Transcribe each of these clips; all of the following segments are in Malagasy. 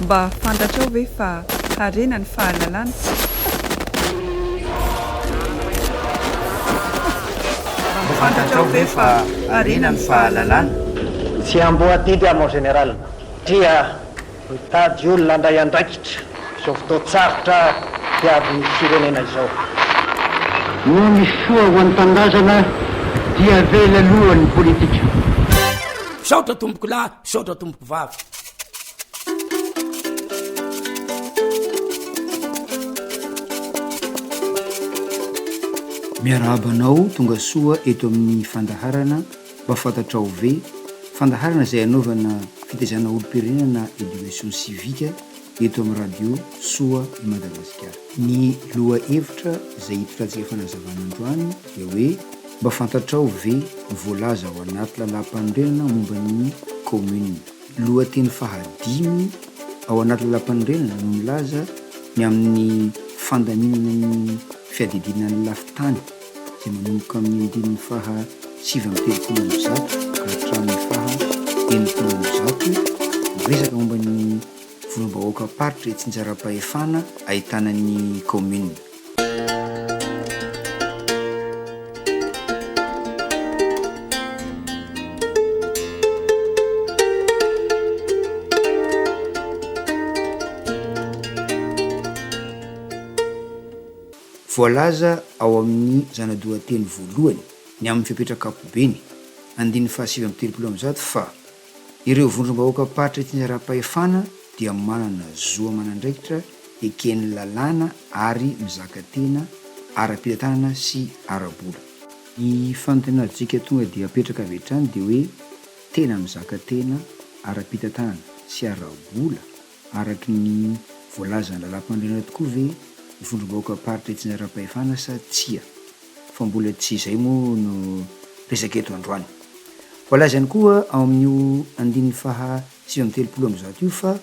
Mba fantatrao ve fa harena ny fahalalana? Mba fantatrao ve fa harena ny fahalalana? Tsy amboadidy aho mon général tria mitady olona handray andraikitra izao fotoan-tsarotra diavin'ny firenena izao. Noho ny soa ho an'ny tanindrazana dia avela aloha ny politika. Misaotra tompokolahy Misaotra tompoko vavy. Miarahaba anao tonga soa eto amin'ny fandaharana Mba fantatrao ve? fandaharana izay anaovana fitaizana olom-pirenena na Education Civique. eto amin'ny Radio Soa i Madagasikara. Ny lohahevitra izay hipitantsika fanazavana androany dia hoe mba fantatrao ve ny voalaza ao anaty Lalàmpanorenana momba ny Kaominina? Lohateny fahadimy ao anaty Lalàmpanorenana no milaza ny amin'ny fandaminana ny fiadidiana ny lafin-tany izay manomboka amin'ny andininy faha sivy amby telopolo amby zato ka hatramin'ny faha enimpolo amby zato miresaka momba ny Vondrom-bahoakam-paritra itsinjaram-pahefana ahitana ny kaominina. Voalaza ao amin'ny zana-dohateny voalohany ny amin'ny fepetra ankapobeny, andininy fahasivy amby telopolo amby zato fa Ireo vondrom-bahoakam-paritra itineram-pahefana dia manana zo aman'andraikitra eken'ny lalàna ary mizaka tena ara-pitantanana sy ara-bola. Ny fanantenantsika tonga dia apetraka avy hatrany dia hoe tena mizaka tena ara-pitantanana sy ara-bola? Araka ny voalazan'ny Lalàmpanorenana tokoa ve ny vondrom-bahoakam-paritra itsinjaram-pahefana sa tsia? Fa mbola tsy izay moa no resaka eto androany. Voalaza ihany koa ao amin'io andininy faha sivy amby telopolo amby zato io fa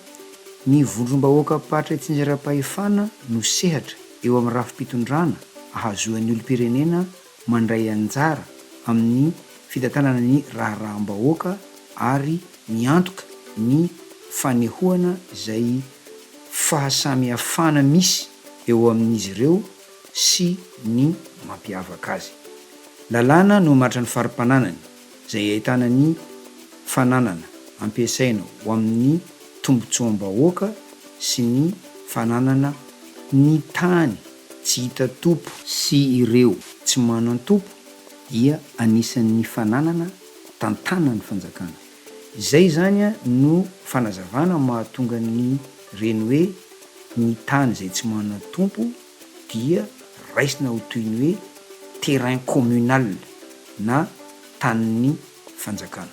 ny vondrom-bahoakam-paritra itsinjaram-pahefana no sehatra eo amin'ny rafi-pitondrana ahazoan'ny olom-pirenena mandray anjara amin'ny fitantanana ny raharaham-bahoaka ary miantoka ny fanehoana izay fahasamihafana misy eo amin'izy ireo sy ny mampiavaka azy. Lalàna nohamaritran'ny fari-pananany izay ahitana ny fananana ampiasaina ho amin'ny tombontsoam-bahoaka sy ny fananana ny tany. tsy hita tompo sy ireo tsy manan-tompo dia anisan'ny fananana tantana ny fanjakana. Izay izany no fanazavana mahatonga ny reny hoe ny tany izay tsy manan-tompo dia raisina ho toy ny hoe terrain communal na tanin'ny fanjakana.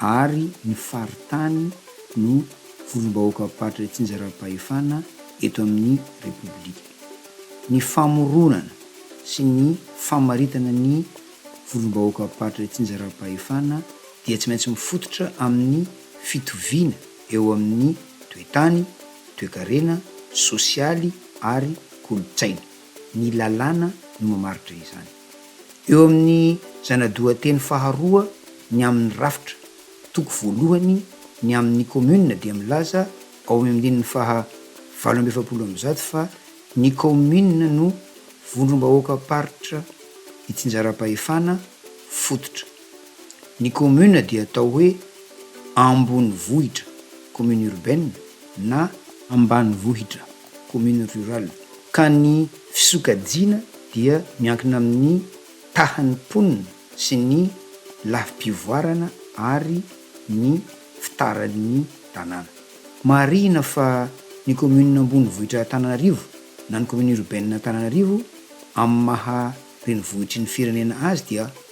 ary ny faritany no vondrom-bahoakam-paritra itsinjaram-pahefana eto amin'ny Repoblika. Ny famoronana sy ny famaritana ny vondrom-bahoakam-paritra itsinjaram-pahefana dia tsy maintsy mifototra amin'ny fitoviana eo amin'ny toe-tany, toe-karena, sosialy ary kolontsaina. ny lalàna no mamaritra izany. Eo amin'ny zana-dohateny faharoa ny amin'ny rafitra, toko voalohany ny amin'ny kaominina dia milaza ao amin'ny andininy faha valo amby efapolo amby zato fa ny kaominina no vondrom-bahoakam-paritra itsinjaram-pahefana fototra. Ny kaominina dia atao hoe ambonivohitra, commune urbaine, na. Ambanivohitra. commune rurale, ka ny fisokajiana dia miankina amin'ny tahan'ny mponina sy ny lafim-pivoarana ary ny fitaran'ny tanàna. Marihina fa ny commune ambonivohitra Antananarivo na ny commune urbaine Antananarivo amin'ny maha renivohitry ny firenena azy dia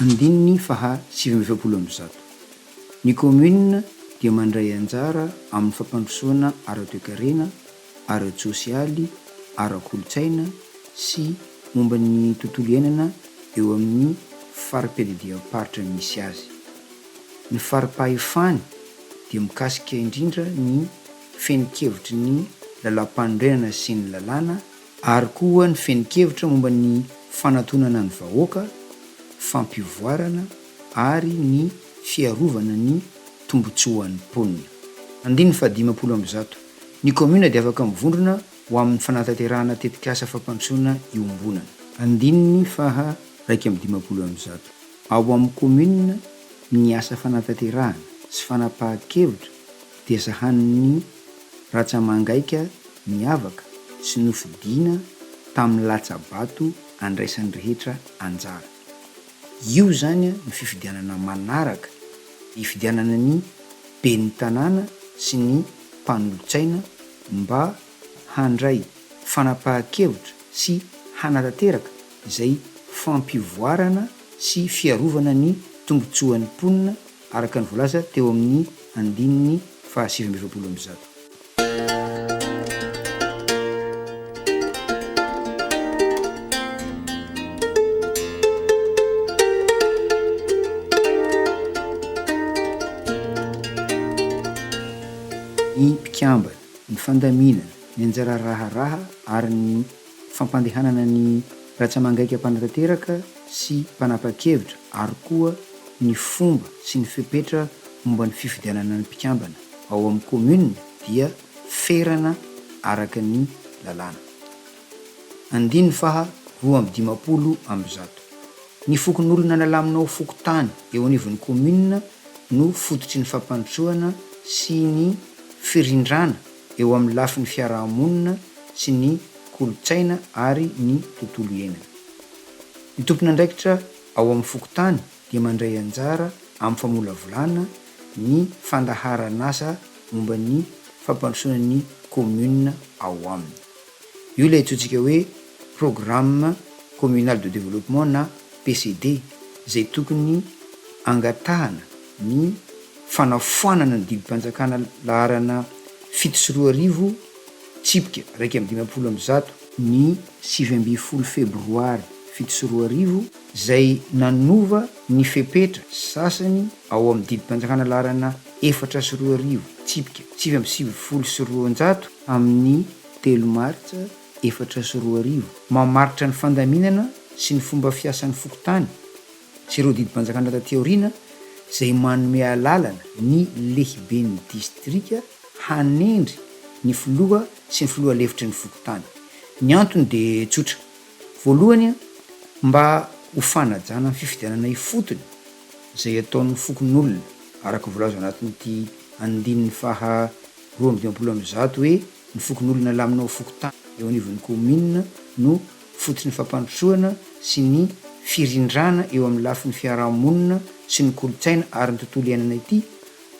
Andininy faha sivy amby efapolo amby zato. Ny kaominina dia mandray anjara amin'ny fampandrosoana ara-toekarena, ara-tsosialy, ara-kolontsaina sy momba ny tontolo iainana eo amin'ny fari-piadidiam-paritra misy azy. Ny fari-pahefany dia mikasika indrindra ny fehin-kevitry ny lalàmpanorenana sy ny lalàna ary koa ny fehin-kevitra momba ny fanatonana ny vahoaka, fampivoarana ary ny fiarovana ny tombontsoan'ny mponina. Andininy fahadimampolo amby zato. Ny kaominina dia afaka mivondrona ho amin'ny fanatanterahana tetikasa fampandrosoana iombonana. Andininy faha raika amby dimampolo amby zato. Ao amin'ny Kaominina, ny asa fanatanterahana sy fanapahan-kevitra dia sahanin'ny ratsa-mangaika miavaka sy nofidiana tamin'ny latsa-bato andraisan'ny rehetra anjara. Io izany no fifidianana manaraka hifidianana ny Ben'ny Tanàna sy ny Mpanolotsaina mba handray fanapahan-kevitra sy hanatanteraka izay fampivoarana sy fiarovana ny tombontsoan'ny mponina araka ny voalaza teo amin'ny andininy fahasivy amby efapolo amby zato. Ny mpikambana. ny fandaminana, ny anjara raharaha ary ny fampandehanana ny ratsamangaika mpanatanteraka sy mpanapa-kevitra ary koa ny fomba sy ny fepetra momba ny fifidianana ny mpikambana ao amin'ny kaominina dia ferana araka ny lalàna. Andininy faha roa amby dimampolo amby zato. Ny fokonolona nalamina ho fokontany eo anivon'ny kaominina no fototry ny fampandrosoana sy ny firindrana eo amin'ny lafiny fiaraha-monina sy ny kolontsaina ary ny tontolo iainana. Ny tompon'andraikitra ao amin'ny fokontany dia mandray anjara amin'ny famolavolana ny fandaharan'asa momba ny fampandrosoana ny kaominina ao aminy. Io ilay antsointsika hoe Programme Communal de Développement na PCD izay tokony angatahana ny fanafoanana ny didim-panjakana laharana fito sy roa arivo tsipika iraika amby dimampolo amby zato, ny sivy ambin'ny folo febroary fito sy roa arivo, izay nanova ny fepetra sasany Ao amin'ny didim-panjakana laharana efatra sy roa arivo, tsipika sivy amby sivifolo sy roanjato amin'ny telo martsa efatra sy roa arivo, mamaritra ny fandaminana sy ny fomba fiasan'ny fokontany sy ireo didim-panjakana taty aoriana izay manome alalana ny lehiben'ny distrika hanendry ny filoha sy ny filoha lefitry ny fokontany. Ny antony dia tsotra. Voalohany, mba ho fanajana ny fifidianana ifotony. izay ataon'ny fokonolona, araka voalaza ao anatin'ity andininy faha roa amby dimampolo amby zato hoe ny fokonolona lamina ao fokontany, eo anivon'ny kaominina no fototry ny fampandrosoana sy ny firindrana eo amin'ny lafiny fiaraha-monina sy ny kolontsaina ary ny tontolo iainana ity,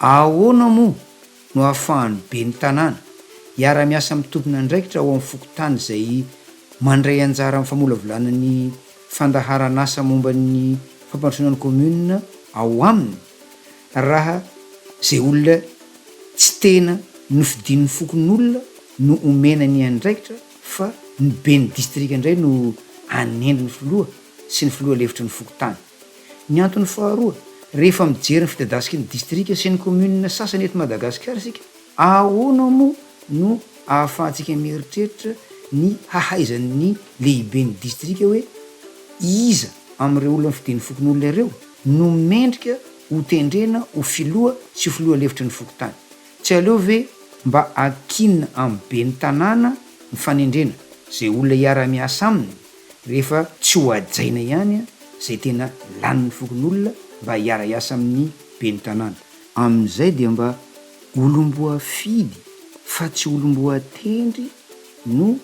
ahoana moa no ahafahan'ny ben'ny tanàna hiara-miasa amin'ny tomponandraikitra ao amin'ny fokontany izay mandray anjara amin'ny famolavolana ny fandaharan'asa momba ny fampandrosoana ny kaominina ao aminy raha izay olona tsy tena nofidin'ny fokonolona no omena ny andraikitra fa ny ben'ny distrika indray no anendry ny filoha sy ny filoha lefitry ny fokontany. Ny antony faharoa, rehefa mijery ny fidadasiky ny distrika sy ny kaominina sasany eto Madagasikara isika, ahoana moa no ahafahantsika mieritreritra ny hahaizan'ny lehiben'ny distrika hoe iza amin'ireo olona mifidia ny fokonolona ireo no mendrika ho tendrena ho filoha sy ho filoha lefitry ny fokontany? Tsy aleo ve mba akinina amin'ny ben'ny tanàna ny fanendrena izay olona hiara-miasa aminy? rehefa tsy ho hajaina ihany izay tena lanin'ny fokonolona mba hiara-hiasa amin'ny ben'ny tanàna. Amin'izay dia mba olom-boafidy fa tsy olom-boatendry no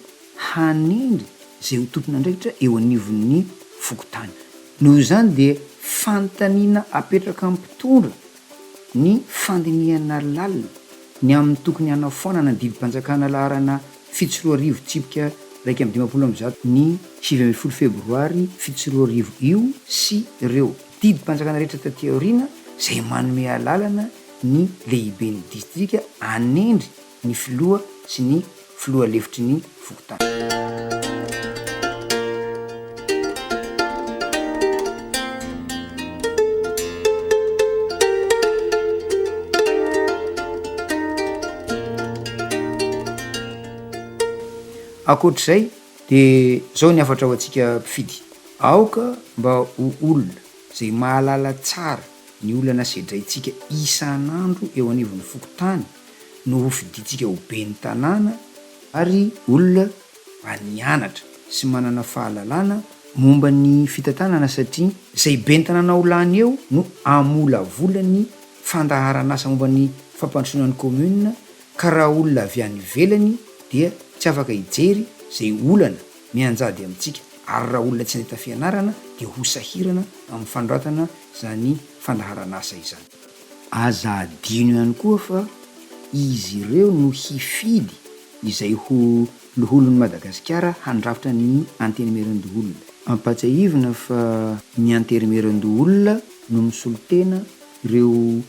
hanendry izay ho tompon'andraikitra eo anivon'ny fokontany. Noho izany dia fanontaniana apetraka amin'ny mpitondra ny fandinihana lalina ny amin'ny tokony hanafoanana ny didim-panjakana laharana fito sy roa arivo tsipika iraika amby dimampolo amby zato ny sivy ambin'ny folo febroary fito sy roa arivo io sy ireo didim-panjakana rehetra taty aoriana izay manome alalana ny lehiben'ny distrika hanendry ny filoha sy ny filoha lefitry ny fokontany. Ankoatra izay dia izao ny hafatra ho antsika mpifidy, aoka mba ho olona izay mahalala tsara ny olana sedraintsika isan'andro eo anivon'ny fokontany no hofidintsika ho ben'ny tanàna ary olona mba nianatra sy manana fahalalana momba ny fitantanana satria izay ben'ny tanàna ho lany eo no hamolavola ny fandaharan'asa momba ny fampandrosoana ny commune ka raha olona avy any ivelany dia tsy afaka hijery izay olana mianjady amintsika ary raha olona tsy nahita fianarana dia ho sahirana amin'ny fanoratana izany fandaharan'asa izany. Aza adino ihany koa fa izy ireo no hifidy izay ho Loholon'i Madagasikara handrafitra ny Antenimierandoholona. Ampatsiahivina fa ny Antenimierandoholona no misolo tena ireo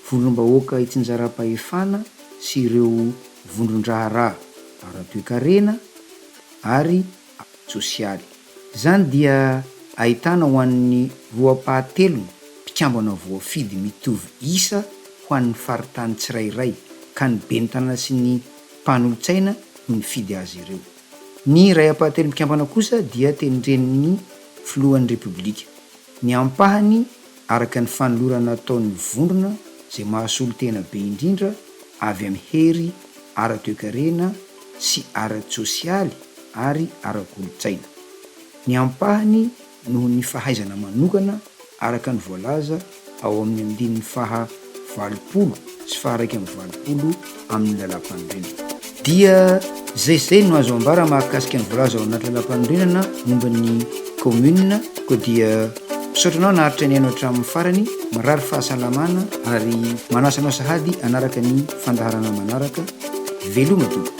Vondrom-bahoaka itsinjaram-pahefana sy ireo vondron-draharaha ara-toekarena ary ara-tsosialy. Izany dia ahitana ho an'ny roapahatelon'ny mpikambana voafidy mitovy isa ho an'ny faritany tsirairay ka ny ben'ny tanàna sy ny mpanolotsaina no nifidy azy ireo. Ny iray ampahatelon'ny mpikambana kosa dia tendren'ny filohan'ny Repoblika. Ny ampahany, araka ny fanolorana ataon'ny vondrona izay mahasolo tena be indrindra avy amin'ny hery ara-toekarena sy ara-tsosialy ary ara-kolontsaina. Ny ampahany noho ny fahaizana manokana araka ny voalaza ao amin'ny andininy faha. valopolo sy faha-raika amby valopolo amin'ny Lalàmpanorenana. Dia izay izay no azo ambara mahakasika ny voalaza ao anaty Lalàmpanorenana momba ny Kaominina, koa dia misaotra anao naharitra nihaino hatramin'ny farany, mirary fahasalamana ary manasa anao sahady hanaraka ny fandaharana manaraka, veloma tompoko.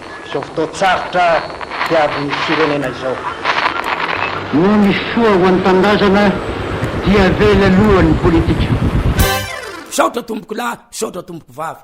Izao fotoan-tsarotra diavin'ny firenena izao. Noho ny soa ho an'ny tanindrazana dia avela aloha ny politika. Misaotra tompokolahy, misaotra tompoko vavy.